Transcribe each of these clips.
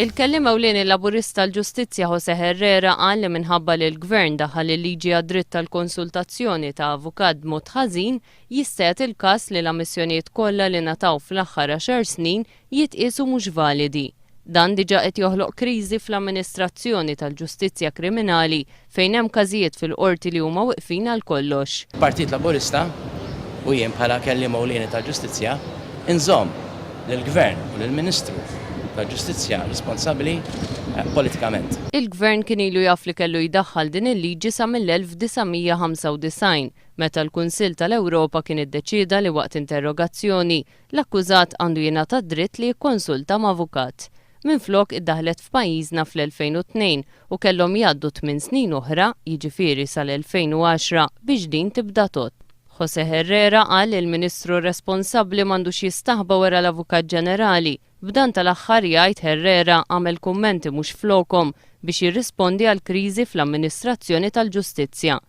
Il-Kelliem Ewlieni Laburist tal-Ġustizzja Jose Herrera qal li minħabba li l-Gvern daħħal il-liġi għad-dritt tal-konsultazzjoni ta' avukat b'mod ħażin, jista' jagħti l-każ li l-ammissjonijiet kollha li ngħataw fl-aħħar għaxar snin jitqiesu mhux validi. Dan diġà qed joħloq kriżi fl-amministrazzjoni tal-ġustizzja kriminali fejn hemm każijiet fil-Qorti li huma wiqfin għal kollox. Partit Laburista, u jien bħala Kelliem Ewlieni tal-Ġustizzja, inżomm lill-Gvern u lill-Ministru tal-Ġustizzja responsabbli politikament. Il-Gvern kien ilu jaf li kellu jdaħħal din il-liġi sa mill-1995, meta l-Kunsill tal-Ewropa kien iddeċieda li waqt interrogazzjoni L-akkużat għandu jingħata d-dritt li jikkonsulta ma' avukat. Minflok iddaħħlet f'pajjiżna fl-2002 u kellhom jgħaddu tmien snin oħra, jiġifieri sal-2010, biex din tibda tgħodd. José Herrera qal li l-Ministru responsabbli m'għandux jistaħba wara l-Avukat Ġenerali. B'dan tal-aħħar, jgħid Herrera, għamel kummenti mhux flokhom biex jirrispondi għall-kriżi fl-amministrazzjoni tal-ġustizzja.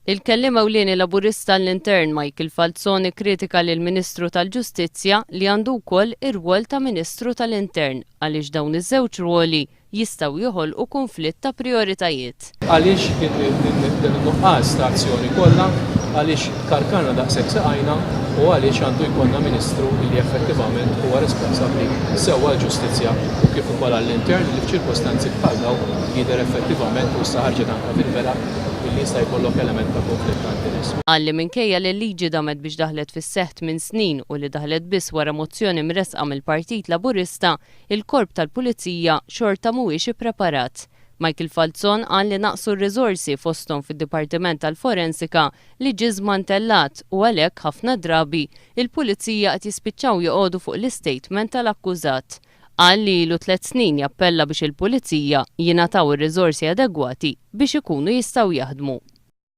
Il-Kelliem Ewlieni Laburista għall-Intern Michael Falzon ikkritika lill-Ministru tal-Ġustizzja li għandu wkoll ir-rwol ta' Ministru tal-Intern għaliex dawn iż-żewġ rwoli jistgħu joħolqu kunflitt ta' prijoritajiet. Għaliex dan in-nuqqas ta' azzjoni kollha, għaliex karkarna daqshekk saqajna u għaliex għandu jkollna Ministru li effettivament huwa responsabbli sew għall-Ġustizzja u kif ukoll għall-Intern li f'ċirkostanzi bħal dawn jidher effettivament u issa ħarġet anke fil-vela billi jista' jkollok element ta' kunflitt ta' interess. Qal li minkejja li l-liġi damet biex daħlet fis-seħħ tmien snin u li daħlet biss wara mozzjoni mressqa mill-Partit Laburista, il-Korp tal-Pulizija xorta mhuwiex ippreparat. Michael Falzon qal li naqsu r-riżorsi fosthom fid-Dipartiment tal-Forensika li ġie żmantellat u għalhekk ħafna drabi il-Pulizija qed jispiċċaw joqogħdu fuq l-istatement tal-akkużat. Qal li ilu tliet snin jappella biex il-Pulizija jingħataw ir-riżorsi adegwati biex ikunu jistgħu jaħdmu.